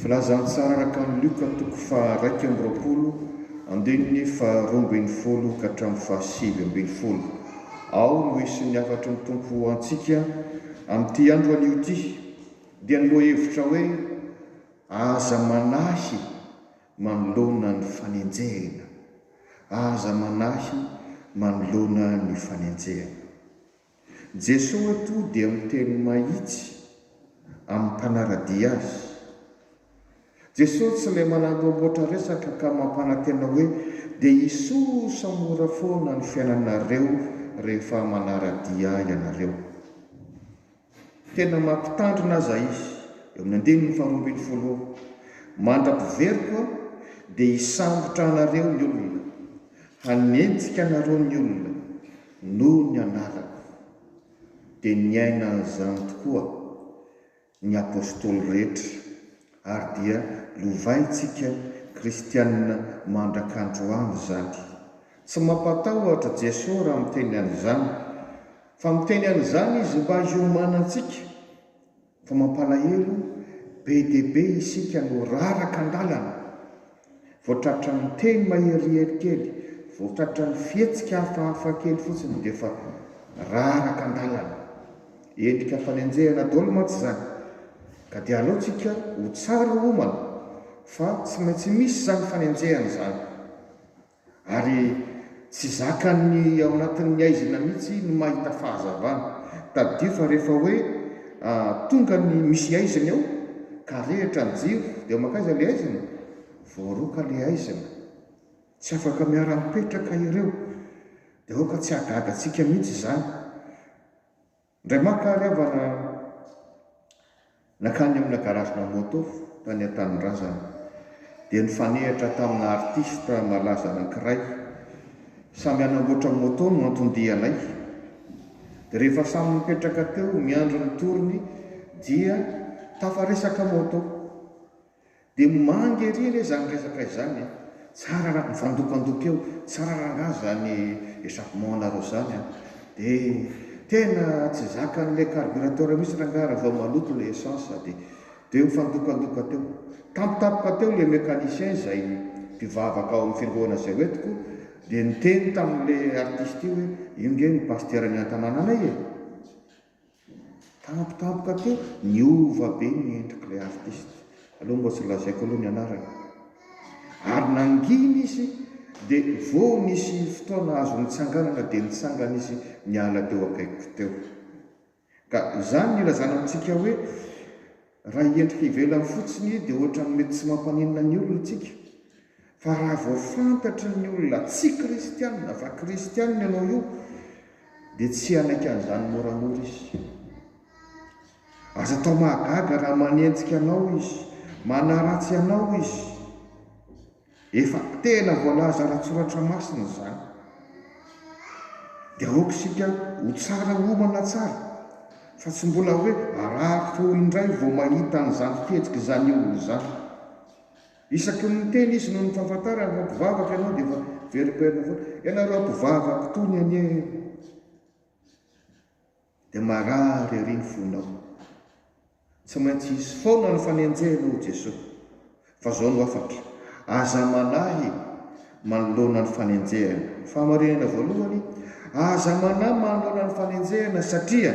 Voalazan'i Tsara Rakan'i Lioka toko faha-iraika amby roapolo andininy faharoa ambin'ny folo ka hatramin'ny fahasivy ambin'ny folo ao no hisy ny hafatry ny Tompo ho antsika amin'ity andro anio ity dia ny lohahevitra hoe Aza manahy manoloana ny fanenjehina, aza manahy manoloana ny fanenjehina. Jesoa eto dia miteny mahitsy amin'ny mpanara-dia Azy. Jesoa tsy ilay manamboamboatra resaka ka mampanantena hoe dia hisosa mora foana ny fiainanareo rehefa manara-dia ianareo. Tena mampitandrina aza izy, eo amin'ny andininy faharoa ambin'ny folo eo, Mandra-piveriko aho, dia hisambotra anareo ny olona, hanenjika anareo ny olona, noho ny anarako. Dia niaina an'izany tokoa ny apostoly rehetra, ary dia lovaintsika kristiana mandrak'androany izany. Tsy mampatahotra Jeso raha miteny an'izany, Fa miteny an'izany izy mba hiomanantsika, fa mampalahelo be dia be isika no raraka an-dalana, vao tratran'ny teny maherihery kely, vao tratran'ny fihetsika hafahafa kely fotsiny dia efa raraka an-dalana. Endrika fanenjehana daholo mantsy izany, ka dia aleontsika ho tsara homana fa tsy maintsy misy izany fanenjehana izany. Ary tsy zakan'ny ao anatin'ny haizina mihitsy ny mahita fahazavana. Tadidio fa rehefa hoe tonga ny misy haizina eo ka rehitra ny jiro dia mankaiza ilay haizina? Voaroaka ilay haizina. Tsy afaka miara-mipetraka ireo. Dia aoka tsy hahagaga antsika mihitsy izany. Indray maka ary havana nankany amina garage-na moto tany an-tanindrazana dia nifanehatra tamina artista malaza anankiray. Samy hanamboatra moto no anton-dianay. Dia rehefa samy nipetraka teo miandry ny tour-ny dia tafaresaka moto. Dia mangy ery re zany resaka izany e! Tsara raha mifandokandoka eo, tsara rangah zany échappement anareo zany an! Dia tena tsy zakan'ilay carburateur mihitsy rangah raha vao maloto ilay essence dia dia mifandokandoka teo. Tampotampoka teo ilay mécanicien izay mpivavaka ao amin'ny fiangonana izay hoentiko dia niteny tamin'ilay artiste io hoe io nge ny pasiteran'ny an-tanànanay e! Tampotampoka teo, niova be ny endrik'ilay artista, aleo mba tsy lazaiko aloha ny anarany, ary nangina izy dia vao nisy fotoana azo nitsanganana dia nitsangana izy niala teo akaikiko teo. Ka izany no ilazana amintsika hoe. Raha hiendrika ivelany fotsiny dia ohatran'ny mety tsy mampaninona ny olona isika. Fa raha vao fantatry ny olona tsy kristianina fa kristianina ianao io dia tsy hanaiky an'izany moramora izy. Aza atao mahagaga raha manenjika anao izy, manaratsy anao izy. Efa tena voalaza ara-tsoratra masina izany. Dia aoka isika ho tsara homana tsara, fa tsy mbola hoe harary feo indray vao mahita an'izany fihetsika izany eo ho izany. Isaky ny miteny izy noho ny fahafantarany ireo mpivavaka ianao dia efa veriberina foana, ianareo mpivavaka itony anie e! Dia marary ery ny fonao. Tsy maintsy hisy foana ny fanenjehana hoy Jesoa. Fa zao no afaka, aza manahy manoloana ny fanenjehana. Fahamarinana voalohany, aza manahy manoloana ny fanenjehana satria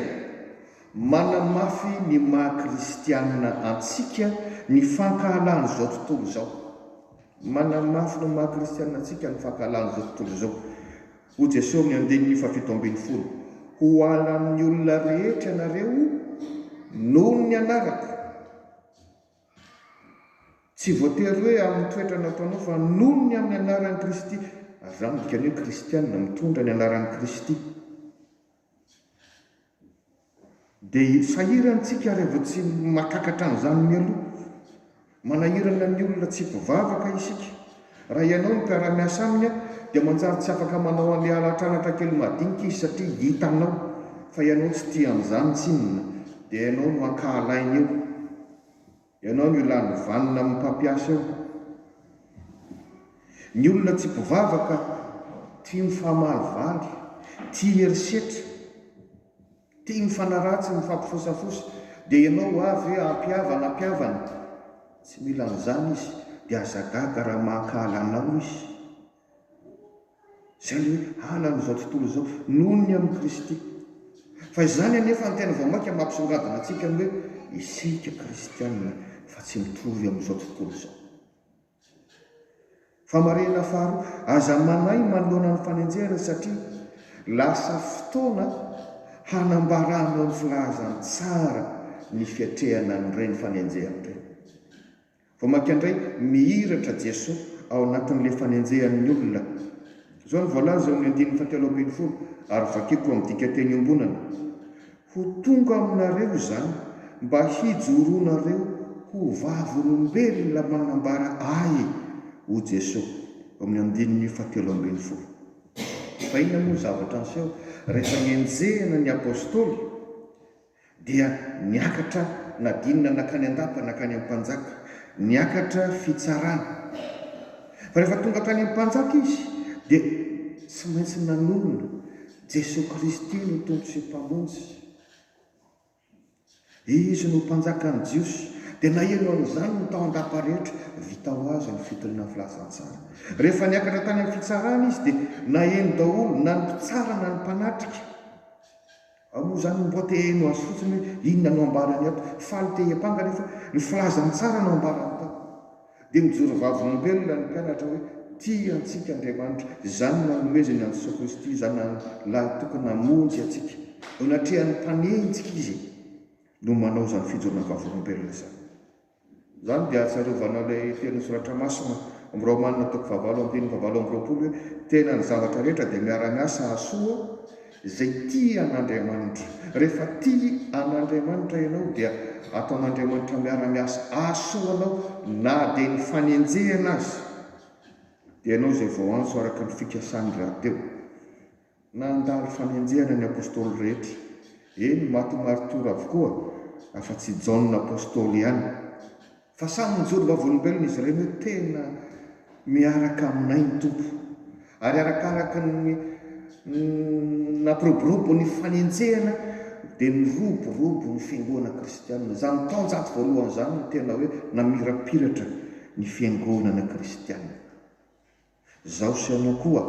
manamafy ny maha kristianina antsika ny fankahalan'izao tontolo izao. Manamafy ny maha kristianina antsika ny fankahalan'izao tontolo izao. Ho Jeso ny andininy fahafito ambin'ny folo Ho ala amin'ny olona rehetra ianareo noho ny anarako Tsy voatery hoe amin'ny toetra nataonao fa noho ny amin'ny anaran'i Kristy ary izany midika ny hoe kristiana mitondra ny anaran'i Kristy. Dia sahirana isika raha vao tsy mahatakatra an'izany mialoha. Manahirana ny olona tsy mpivavaka isika. Raha ianao no mpiara-miasa aminy, dia manjary tsy afaka manao an'ilay halatr'anatra kely madinika izy satria hitanao fa ianao tsy tia an'izany tsinona, dia ianao no ankahalainy eo. Ianao no lany vanona amin'ny mpampiasa eo. Ny olona tsy mpivavaka tia mifamalivaly, tia herisetra, tia mifanaratsy, mifampifosafosa. Dia ianao ho avy hoe ampihavana, ampihavana. Tsy mila an'izany izy. Dia aza gaga raha mankahala anao izy. Izay ny hoe hanana izao tontolo izao noho ny amin'i Kristy. Fa izany anefa ny tena vao mainka mampisongadina antsika ny hoe isika kristiana fa tsy mitovy amin'izao tontolo izao. Famarinana faharoa, aza manahy manoloana ny fanenjehana satria lasa fotoana hanambaranao ny filazantsara ny fiatrehana an'ireny fanenjehana ireny. Vao mainka indray mihiratra Jesoa ao anatin'ilay fanenjehan'ny olona. Izao no voalaza eo amin'ny andininy fahatelo ambin'ny folo, ary vakiko amin'ny dikanteny iombonana, Ho tonga aminareo izany mba hijoronareo ho vavolombelona manambara Ahy, hoy Jesoa, eo amin'ny andininy fahatelo ambin'ny folo. Fa inona moa ny zavatra niseho rehefa nenjehina ny Apostoly? Dia niakatra Nadinina nankany an-dapa nankany am-panjaka. Niakatra fitsarana. Fa rehefa tonga tany am-panjaka izy dia tsy maintsy nanonona Jesoa Kristy no Tompo sy Mpamonjy. Izy no mpanjakan'ny Jiosy. Dia naheno an'izany ny tao an-dapa rehetra. Vita ho azy ny fitiliana ny filazantsara. Rehefa niakatra tany amin'ny fitsarana izy dia naheno daholo na ny mpitsara na ny mpanatrika. Ao moa izany mbo te heno azy fotsiny hoe inona no ambarany ato. Faly te hiampanga nefa ny filazany tsara no ambarany tao. Dia mijoro vavolombelona ny mpianatra hoe tia antsika Andriamanitra. Izany no anomezany an'i Jesoa Kristy Zanany lahy tokana hamonjy antsika. Eo anatrehan'ny mpanenjika Izy no manao izany fijoroana vavolombelona izany. Izany dia ahatsiarovana ilay tenin'ny Soratra Masina amin'ny Romana toko fahavalo andininy fahavalo amby roapolo hoe, Tena ny zavatra rehetra dia miara-miasa hahasoa izay tia an'Andriamanitra. Rehefa tia an'Andriamanitra ianao dia ataon'Andriamanitra miara-miasa hahasoa anao na dia ny fanenjehana aza dia ianao izay voaantso araka ny fikasany rahateo. Nandalo fanenjehana ny Apostoly rehetra, eny, maty ho maritiora avokoa, afa-tsy i Jaona Apostoly ihany. Fa samy nijoro vavolombelona izy ireny hoe, Tena miaraka aminay ny Tompo. Ary arakaraka ny nampiroborobo ny fanenjehana, dia niroborobo ny fiangonana kristianina. Izany taonjato voalohany izany no tena hoe namirapiratra ny fiangonana kristianina. Zaho sy ianao koa.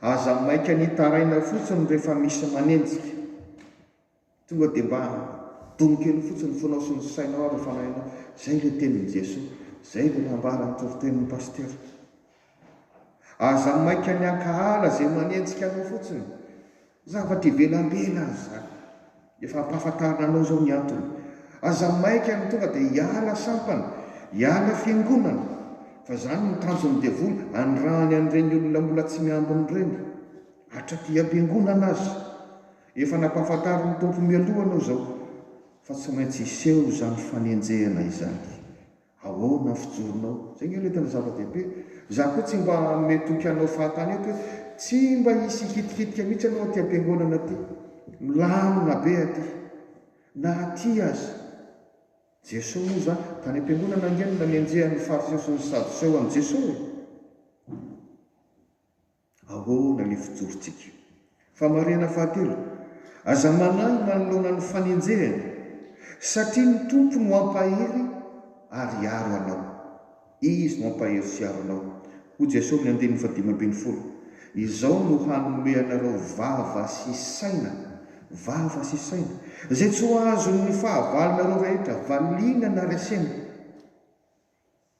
Aza maika ny hitaraina fotsiny rehefa misy manenjika. Tonga dia mba domo kely fotsiny ny fonao sy ny sainao ary fanahinao. Izay ilay tenin'i Jesoa. Izay ilay nambara ny toritenin'ny Pasitera. Aza maika ny hankahala izay manenjika anao fotsiny. Zavatra ivelambela aza izany. Efa ampahafantarina anao izao ny antony. Aza maika ny tonga dia hiala sampana, hiala fiangonana, fa izany no tanjon'ny devoly hanirahany an'ireny olona mbola tsy miambina ireny. Hatraty am-piangonana aza. Efa nampahafantarin'ny Tompo mialoha anao izao fa tsy maintsy hiseho izany fanenjehana izany. Ahoana ny fijoronao? Izay ange ilay tena zava-dehibe. Izaho koa tsy mba hanome toky hanao fahatany eto hoe tsy mba hisy hikitikitika mihitsy ianao aty am-piangonana aty. Milamina be aty. Na aty aza. Jesosy moa izany, tany am-piangonana ange no nanenjehan'ny Fariseo sy ny Sadoseo an'i Jesosy e. Ahoana ny fijorontsika? Famarihana fahatelo, Aza manahy manoloana ny fanenjehana, satria ny Tompo no hampahery ary hiaro anao. Izy no hampahery sy hiaro anao. Hoy Jesosy amin'ny andininy fahadimy ambin'ny folo, Izao no hanome anareo vava sy saina, vava sy saina, izay tsy ho azon'ny fahavalonareo rehetra valiana na resena.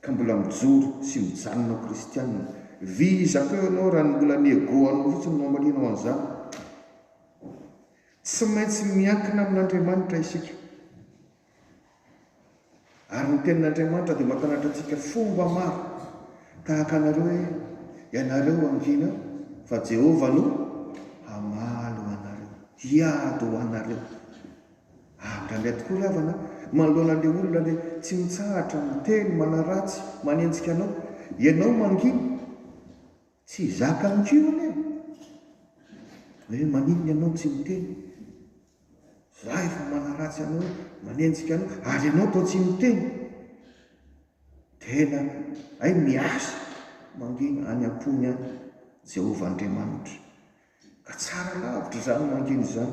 ka mbola mijoro sy mijanona ho kristianina, vizaka eo ianao raha ny mbola ny ego anao fotsiny no amalianao an'izany. Tsy maintsy miankina amin'Andriamanitra isika, ary ny tenin'Andriamanitra dia mampianatra antsika fomba maro, tahaka anareo hoe, Ianareo hangina, fa Jehovah no hamaly ho anareo, hiady ho anareo. Ary raha mety koa ry havana a, manoloana an'ilay olona ilay tsy mitsahatra miteny manaratsy, manenjika anao, ianao mangina, tsy zaka amiko io anie e! Hoe maninona ianao tsy miteny? Za efa manaratsy anao hoe manenjika anao ary ianao toa tsy miteny! Tena hay miasa mangina any am-pony any Jehovah Andriamanitra. Ka tsara lavitra izany mangina izany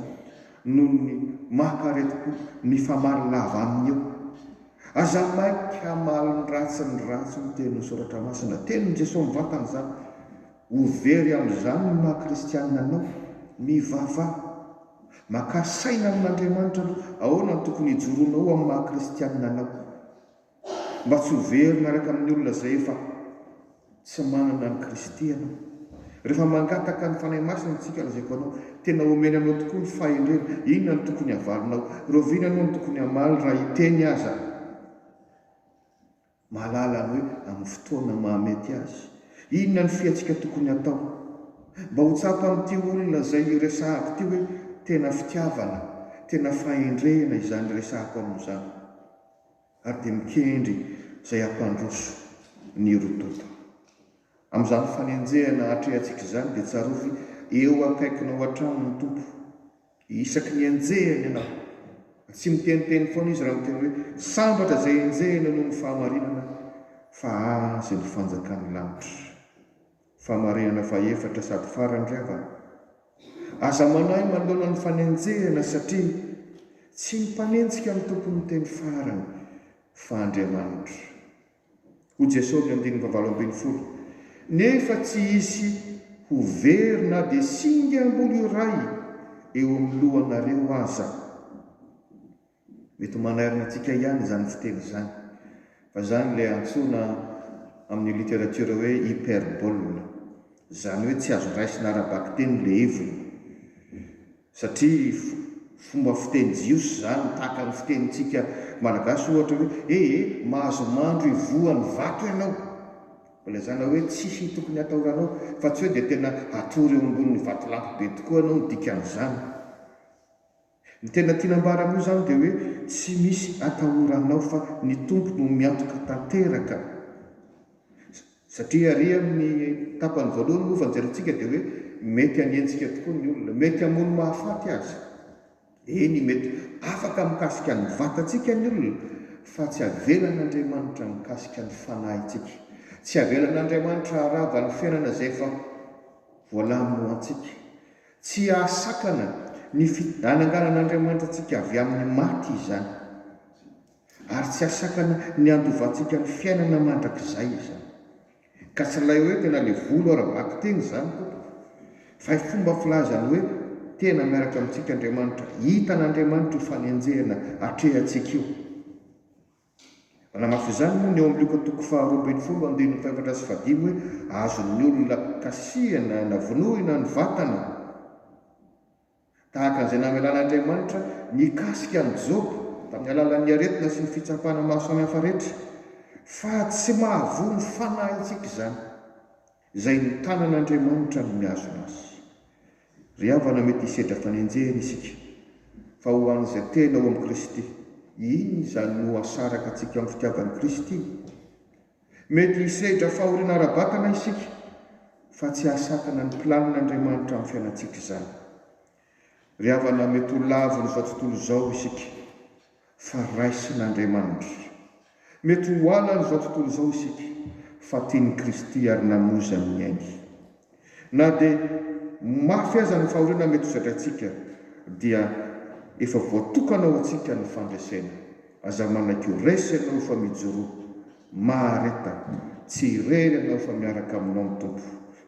noho ny maha-kareti-po mifamaly lava aminy eo. Aza maika hamaly ny ratsy ny ratsy hoy teny soratra masina. Tenin'i Jesoa mivantana izany. Ho very amin'izany ny maha kristianina anao. Mivavaha. Makà saina amin'Andriamanitra aloha. Ahoana no tokony hijoroanao amin'ny maha kristianina anao. mba tsy ho very miaraka amin'ny olona izay efa tsy manana an'i Kristy ianao. Rehefa mangataka ny Fanahy Masina isika, lazaiko anao, tena omeny anao tokoa ny fahendrena. Inona no tokony havalinao? Rahoviana ianao no tokony hamaly raha hiteny aza? Mahalala ny hoe amin'ny fotoana mahamety azy. Inona no fihatsika tokony hatao? Mba ho tsapan'ity olona izay iresahako ity hoe tena fitiavana, tena fahendrena izany iresahako aminy izany. ary dia mikendry izay hampandroso ny rododo. Amin'izany fanenjehana atrehantsika izany dia tsarovy eo akaikinao hatrany ny Tompo. Isaky ny enjehiny ianao, tsy miteniteny foana Izy raha miteny hoe, Sambatra izay enjehina noho ny fahamarinana, fa Azy ny fanjakan'ny lanitra. Famarihana fahefatra sady farany ry havana. Aza manahy manoloana ny fanenjehana satria tsy ny mpanenjika no tompon'ny teny farany fa Andriamanitra. Hoy Jesosy ny andininy fahavalo ambin'ny folo, Nefa tsy hisy ho very na dia singa ambolo iray eo amin'ny lohanareo aza. Mety manahirana antsika ihany izany fiteny izany, fa izany ilay antsoina amin' ny literatiora hoe hyperbole, izany hoe tsy azo raisina ara-bakiteny ilay heviny, satria fomba fiteny jiosy izany, tahaka ny fitenintsika malagasy ohatra hoe, he he, mahazo mandro ivoho any vato ianao, mbola izany na hoe tsisy tokony hatahoranao, fa tsy hoe dia tena hatory eo ambonin'ny vatolampy be tokoa ianao ny dikan'izany. Ny tena tiana ambara amin'io izany dia hoe tsy misy atahoranao fa ny Tompo no miantoka tanteraka. Satria ary amin'ny tapany voalohany moa fanjerentsika dia hoe mety hanenjika tokoa ny olona, mety hamono mahafaty aza. Eny mety afaka mikasika ny vatantsika ny olona fa tsy avelan'Andriamanitra mikasika ny fanahintsika. Tsy avelan'Andriamanitra harava ny fiainana izay efa voalaminy ho antsika. Tsy hahasakana ny fidananganan'Andriamanitra antsika avy amin'ny maty izany, ary tsy hahasakana ny handovantsika ny fiainana mandrakizay izany. Ka tsy ilay hoe tena le volo ara-bakiteny izany tompoko, fa i fomba filazany hoe tena miaraka amintsika Andriamanitra, hitan'Andriamanitra io fanenjehana atrehantsika io. Manamafy izany moa ny eo amin'ny lioka toko faharoa ambin'ny folo andininy fahefatra sy fahadimy hoe, Azon'ny olona kasihina na vonoina ny vatana. Tahaka an'izay namelan'Andriamanitra mikasika an'i Joba tamin'ny alalan'ny aretina sy ny fitsapana maro samihafa rehetra, fa tsy mahavoa ny fanahintsika izany. Izay ny tanan'Andriamanitra no mihazona azy. Ry havana mety hisedra fanenjehana isika, fa ho an'izay tena ao amin'i Kristy, inona izany no hasaraka antsika ao amin'ny fitiavan'i Kristy? Mety hisedra fahoriana ara-batana isika, fa tsy hahasakana ny planin'Andriamanitra amin'ny fiainantsika izany. Ry havana mety ho lavon'izao tontolo izao isika fa raisin'Andriamanitra. Mety ho halan'izao tontolo izao isika fa tian'i Kristy ary namoizany ny ainy. Na dia mafy aza ny fahoriana mety ho zadraintsika dia efa voatokana ho antsika ny fandresena. Aza manaiky ho resy ianao fa mijoroa Mahareta, tsy irery ianao fa miaraka aminao ny Tompo,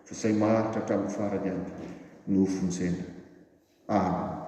fa izay maharitra hatramin'ny farany ihany no ho vonjena. Amena.